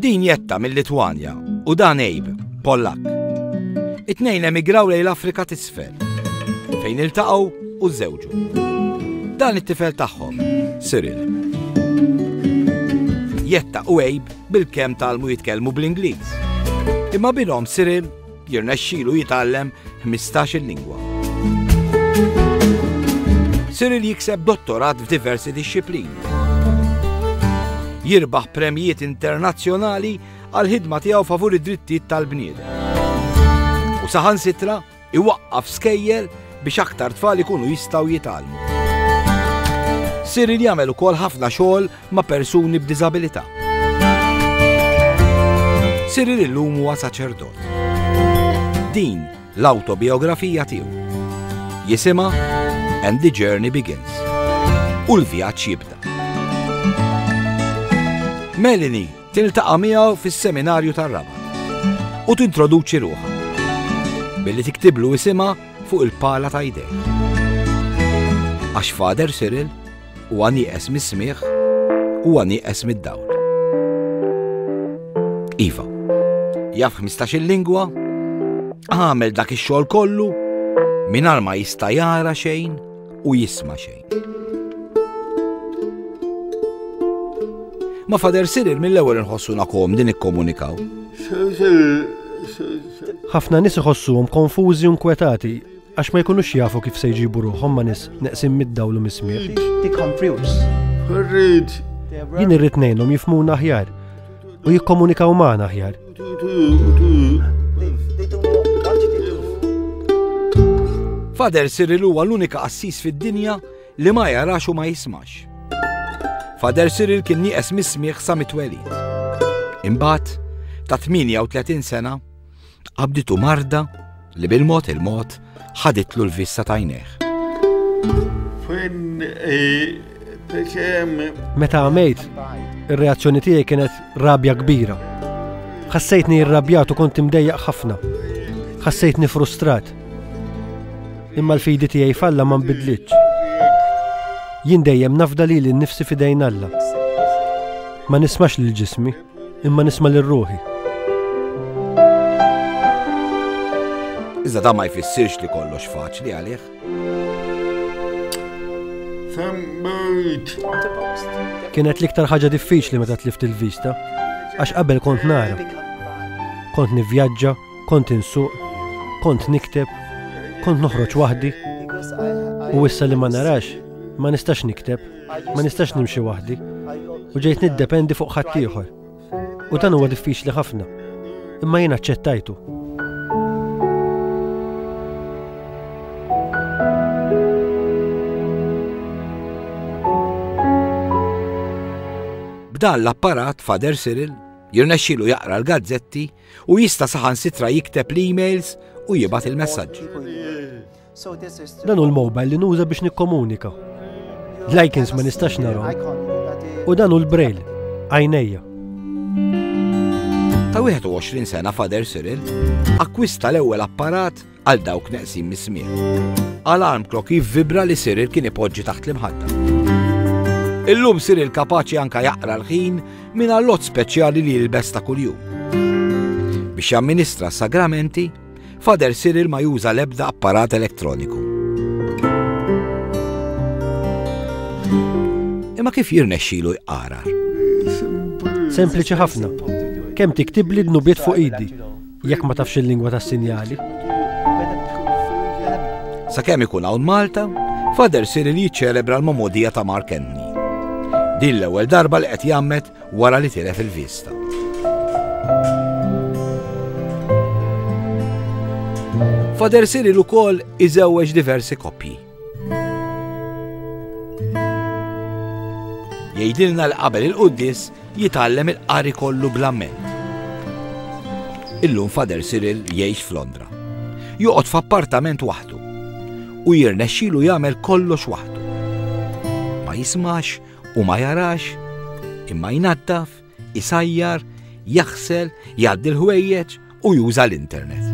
Din jetta mill-Litwanja u dan Ejb, Pollak. It-tnejn emigraw lejn l-Afrika t'isfel, fejn iltaqgħu u żewġu. Dan it-tifel tagħhom, Cyril. Jetta u Ejb bil-kemm talmu jitkellmu bl-Ingliż. Imma bilhom Cyril Jirnexxilu jitgħallem ħmistax-il lingwa. Cyril jikseb dottorat f'diversi dixxiplini. Jirbaħ premjiet internazzjonali għal ħidma tiegħu favur id-drittijiet tal-bniedem. U saħansitra iwaqqaf skejjer biex aktar tfal ikunu jistgħu jitgħallmu. Cyril jagħmel ukoll ħafna xogħol ma' persuni b'diżabilità. Cyril illum huwa saċerdot. Din l-awtobiografija tiegħu. Jisimha And the Journey Begins. U l-vjaġġ jibda. Melanie tiltaqa' miegħu fis-seminarju tar-raba' u tintroduċi ruħha billi tiktiblu isimha fuq il-pala ta' idej. Għax Fader Cyril Huwa nieqes mis-smigħ, huwa nieqes mid-dawl. Iva, jaf 15 il-lingwa, għamel dak ix-xogħol kollu, mingħajr ma jista' jara xejn u jisma' xejn. Ma fader sirir mill-ewwel inħossuna kom din ikkomunikaw. Ħafna nies iħossuhom konfużi u nkwetati Għax ma jkunux jafu kif se jġibu ruħhom ma' nies neqsin mid-dawl u mis-smigħ. Jien irrid ngħinhom jifmuna aħjar u jikkomunikaw magħna aħjar. Fader Cyril huwa l-unika qassis fid-dinja li ma jarax u ma jismax. Fader Cyril kien nieqes mis-smigħ sa mitwelid. Imbagħad, ta' 38 sena, Qabditu marda li bil-mod il-mod ħaditlu l-vista tajneħ. Meta għamejt, ir-reazzjoni tiegħi kienet rabja kbira. Ħassejtni irrabjat u kont imdejjaq ħafna. Ħassejtni frustrat. Imma l-fidi tiegħi falla ma nbidlitx. Jien dejjem nafda li l-nifsi fidejn Alla. Ma nismax lil ġismi. Imma nisma' lil ruħi. Iżda da ma jfissirx li kollox faċli għalih. Kienet l-iktar ħaġa diffiċli meta tlift il-vista, għax qabel kont nara. Kont nivvjaġġa, kont insuq, kont nikteb, kont noħroġ waħdi, u issa li ma narax, ma nistax nikteb. Ma nistax nimxi waħdi u ġejt niddependi fuq ħaddieħor. U dan huwa diffiċli ħafna. Imma jien aċċettajtu. B'dan l-apparat Fader Cyril jirnexxilu jaqra l-gazzetti u jista' saħansitra jikteb l-emails u jibgħat il-messaġġi. Dan hu l-mobile li nuża biex nikkomunika. L-icons ma nistax nara. U dan hu l-braille, għajnejja. Ta' 21 sena Fader Cyril akkwista l-ewwel apparat għal dawk neqsin mis-smien. Alarm clock jivvibra li Cyril kien ipoġġi taħt l-imħadda. Illum Cyril kapaċi anka jaqra l-ħin minn allot speċjali li jilbes ta' kuljum. Biex jamministra sagramenti Father Cyril ma juża l-ebda apparat elettroniku. Imma kif jirnexxilu jqara? Sempliċi ħafna. Kemm tiktibli d-nubiet fuq idi, jekk ma tafx il-lingwa tas-sinjali. Sa kemm ikun hawn Malta, Father Cyril jiċċelebra l-momodija ta' Mark Anthony. Din l-ewwel darba li qed jammet wara li tilef il-vista. Fader Cyril ukoll iżewweġ diversi koppji. Jgħidilna li qabel il-quddis jitgħallem il-qari kollu bl-amment. Illum Fader Cyril jgħix f'Londra. Joqgħod f'appartament waħdu u jirnexxilu jagħmel kollox waħdu. Ma jismax Hu ma jarax, imma jnaddaf, isajjar, jaħsel, jgħaddi l-ħwejjeġ u juża l-internet.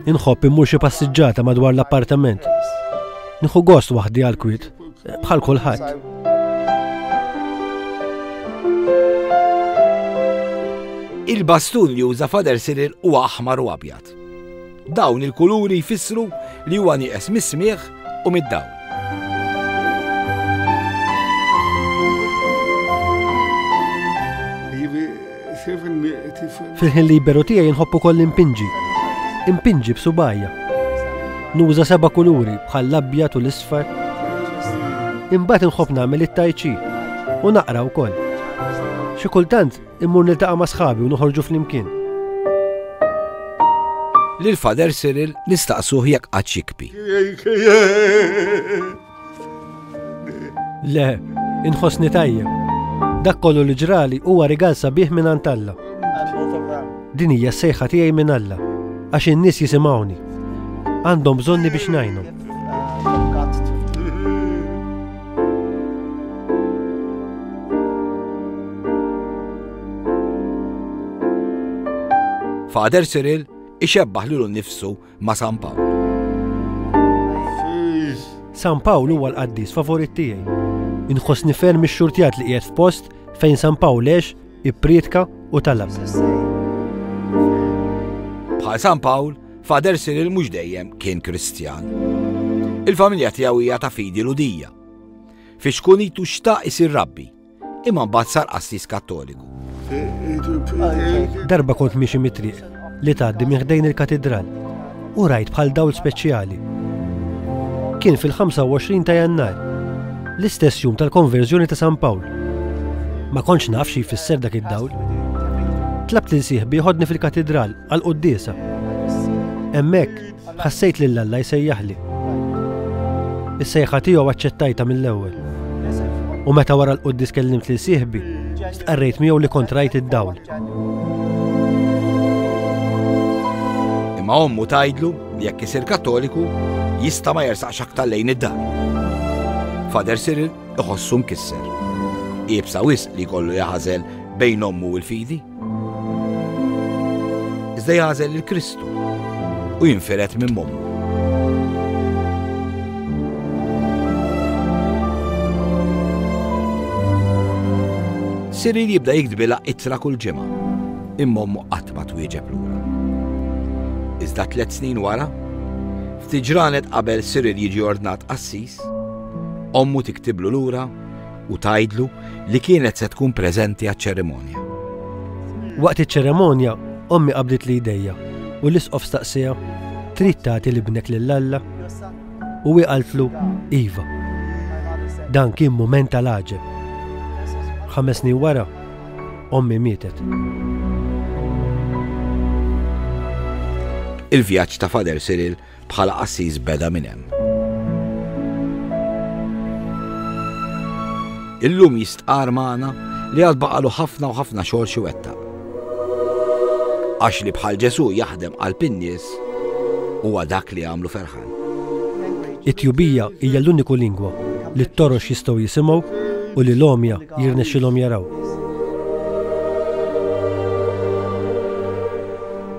Inħobb immur xi passiġġata madwar l-appartament. Nieħu gost waħdi għal kwit, bħal kulħadd. Il-bastun li uża fader Cyril huwa aħmar u abjad. tat-test. Dawn il-kuluri jfissru li huwa nieqes mis-smigħ u mid-dawl. Fil-ħin liberu tiegħi nħobbu koll impinġi. Impinġi b'subajja. Nuża seba' kuluri bħal l-abjad u l-isfar. Imbagħad inħobb nagħmel it-tajċi u naqra wkoll. Xi kultant Immur niltaqa' ma' sħabi u noħorġu flimkien. Lil Father Cyril nistaqsuh jekk qatt jikbi. Le, inħossni tajjeb. Dak kollu li ġrali huwa rigal sabiħ minn Alla. Din hija sejħa tiegħi minn Alla għax in-nies jisimgħuni. Għandhom bżonni biex ngħinhom. Father Cyril ixebbaħ lilu nnifsu ma' San Pawl. San Pawl huwa l-qaddis favorit tiegħi. Inħossni ferm ix-xurtjat li qiegħed f'post fejn San Pawl lex ipprietka u talab. Bħal San Pawl, Father Cyril mhux dejjem kien Kristjan. Il-familja tiegħu hija ta' fidi ludija. Fi xkunitu xtaq isir rabbi, imma mbagħad sar qassis kattoliku. Darba kont miexi mitriq li tgħaddi minn ħdejn il-katidral u rajt bħal dawl speċjali. Kien fil-25 ta' jannar, l-istess jum tal-konverżjoni ta' San Pawl. Ma kontx naf xi jfisser dak id-dawl. Tlabt li nsieħ biħodni fil-katidral għal quddiesa. Hemmhekk ħassejt lil Alla jsejjaħli. Is-sejħa tiegħu aċċettajta mill-ewwel. U meta wara l-quddis kellimt lil sieħbi, stqarrejt miegħu li kontrajt id-dawl. Imma ommu tajdlu li jekk isir kattoliku jista' ma jersaqx aktar lejn id-dar. Fader Cyril iħossu mkisser. Iebsa wisq li kollu jaħażel bejn ommu u l-fidi. Iżda jagħżel lil Kristu u jinfired minn mommu. Siril jibda jiktbilha ittra kull ġimgħa, imma ommu qatt ma twieġeb lura. Iżda tliet snin wara, ftit ġranet qabel Siril jiġi ordnat qassis, ommu tiktiblu lura u tgħidlu li kienet se tkun preżenti għaċ-ċerimonja. Waqt iċ-ċerimonja, ommi qabdet li jdejja u l-isqof staqsija trid tagħti libnek lil Alla u hi qaltlu iva. Dan kien mument tal-għaġeb. Ħames snin wara, ommi mietet. Il-vjaġġ ta' Fader Cyril Bħala qassis beda minn hemm. Illum jistqarr magħna li għad baqalu ħafna u ħafna xogħol xi wettaq. Għax li bħal Ġesu jaħdem qalb in-nies huwa dak li għamlu ferħan. It-tjubija hija l-uniku lingwa li t-torox jistgħu jisimgħu u li l-omja jirnexxilhom jaraw.